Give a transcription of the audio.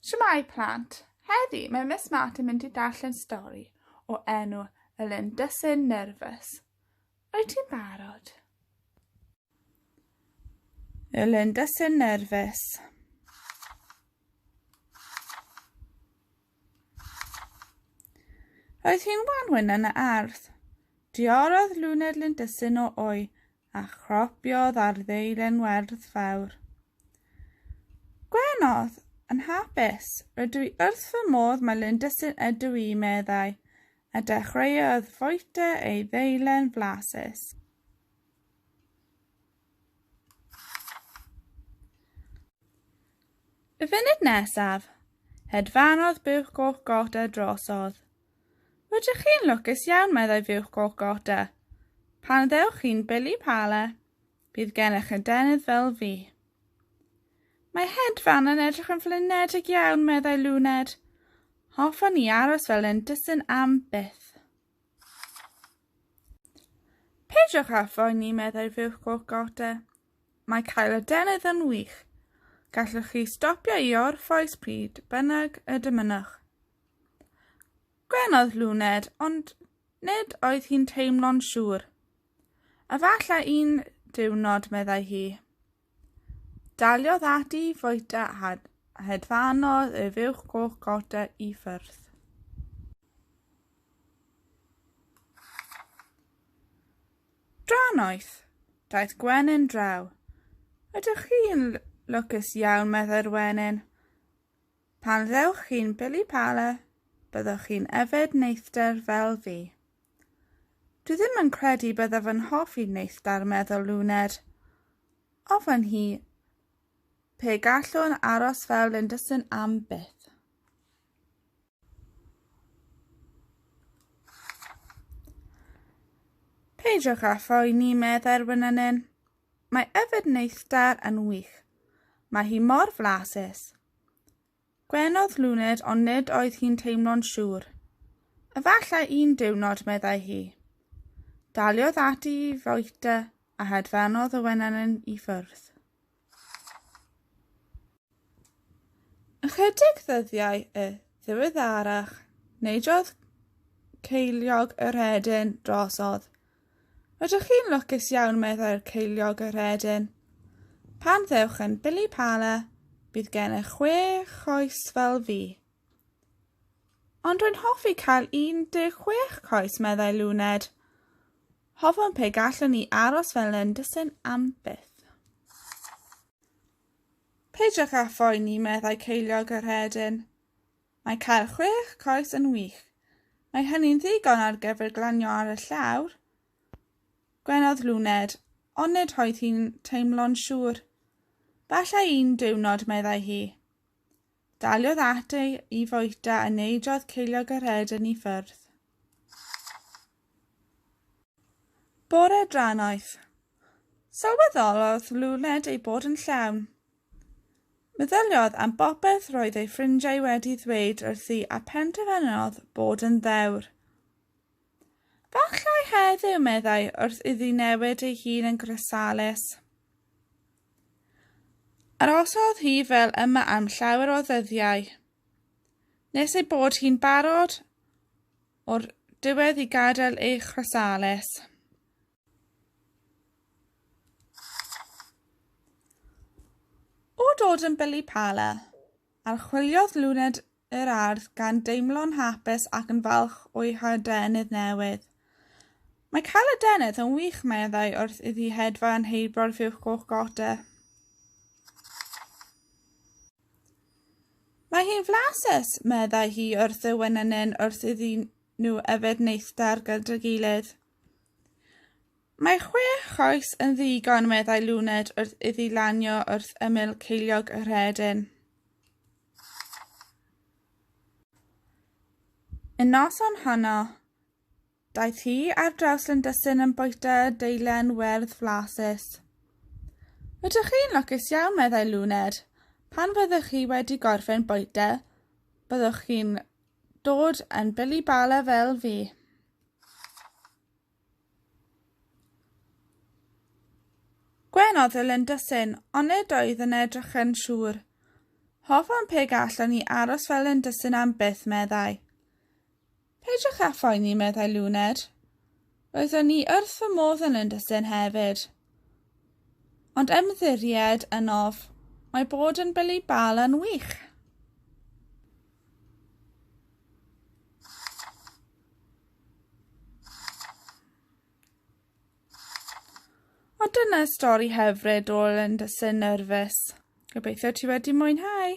Shwmae plant! Heddi mae Miss Martin mynd i darllen stori o enw Y Lundysyn Nerfus. Wyt ti'n barod? Y Lundysyn Nerfus. Oedd hi'n wanwyn yn y ardd. Diorodd Luned Lundysyn o o'i a chropiodd ar ddeilen werdd fawr. Gwenodd, yn hapus, rydw i wrth fy modd mae Linda sy'n ydw i, meddai, a dechreuodd foete ei ddeilen flasus. Y funud nesaf, hedfanodd buwch goch goda drosodd. Rydych chi'n lwcus iawn, meddai fuwch goch Gorta. Pan ddewch chi'n Billy Pala, bydd gennych adenydd fel fi. Mae hedfan yn edrych yn flinedig iawn, meddai Luned. Hoffwn ni aros fel yn dysyn am byth. Peidiwch â phoeni, meddai fuwch goch Gorta. Mae cael adenydd yn wych. Gallwch chi stopio i orffwys pryd bynnag y dymunwch. Gwenodd Luned, ond nid oedd hi'n teimlo'n siŵr. Efallai un diwrnod, meddai hi. Daliodd ati i fwyta a hedfanodd ef uwch goch gota i ffyrdd. Dranoeth, daeth Gwenyn draw. Ydych chi'n lwcus iawn, meddai'r wenyn. Pan ddewch chi'n Billy Pala, byddwch chi'n yfed neithdar fel fi. Dwi ddim yn credu byddaf yn hoffi neithdar, meddwl Luned. Ofyn hi pe gallwn aros fel Linderson am byth. Peidiwch â phoeni, meddai'r wynanyn. Mae yfed neithdar yn wych. Mae hi mor flasus. Gwenodd Luned ond nid oedd hi'n teimlo'n siŵr. Efallai un diwrnod, meddai hi. Daliodd ati i fwyta a hedfanodd y wenenyn i ffwrdd. Ychydig ddyddiau y ddiweddarach, neidiodd ceiliog yr hedyn drosodd Ydych chi'n lwcus iawn, meddai'r ceiliog yr hedyn. Pan ddewch yn Billy Pala, bydd gennych chwe choes fel fi. Ond rwy'n hoffi cael 16 coes, meddai Luned. Hofwn pe gallwn ni aros fel yn dysyn am byth. Peidiwch â phoeni, meddai ceiliog yr hedyn. Mae cael chwech coes yn wych. Mae hynny'n ddigon ar gyfer glanio ar y llawr, gwenodd Luned, ond nid oedd hi'n teimlo'n siŵr. Falle un diwrnod, meddai hi. Daliodd at ei i foeta a neidiodd ceiliog yr ed yn ei ffyrdd. Bore drannoeth. Sylweddolodd Luned ei bod yn llawn. Meddyliodd am bopeth roedd ei ffrindiau wedi ddweud wrthi a phenderfynodd bod yn ddewr. Fallai heddiw, meddai, wrth iddi newid ei hun yn grosalus. Arosodd hi fel yma am llawer o ddyddiau, nes ei bod hi'n barod o'r diwedd i gadael ei chrosalus. O dod yn Billy Pala, archwiliodd Luned yr ardd gan deimlo'n hapus ac yn falch o'i hadenydd newydd. Mae cael adenydd yn wych, meddai wrth iddi hedfa yn heibro'r fuwch goch gota. Mae hi'n flasus, meddai hi wrth y wenynyn wrth iddyn nhw yfed neithdar gyda'i gilydd. Mae chwe choes yn ddigon, meddai Luned wrth iddi lanio wrth ymyl ceiliog y rhedyn. Y noson honno, daeth hi ar draws Lindysyn yn bwyta deilen werdd flasus. Ydych chi'n lwcus iawn, meddai Luned. Pan fyddwch chi wedi gorffen bwyta, byddwch chi'n dod yn Billy Bala fel fi. Gwenodd y Lindysyn, ond nid oedd yn edrych yn siŵr. Hoffwn pe gallwn i aros fel Lindysyn am byth, meddai. Peidiwch â phoeni, meddai Luned. Roeddwn ni wrth fy modd yn Lindysyn hefyd. Ond ymddiried yn of, mae bod yn Billy Bal yn wych. Ond dyna stori hyfryd o Linda Sin Nervous. Gobeithio ti wedi mwynhau.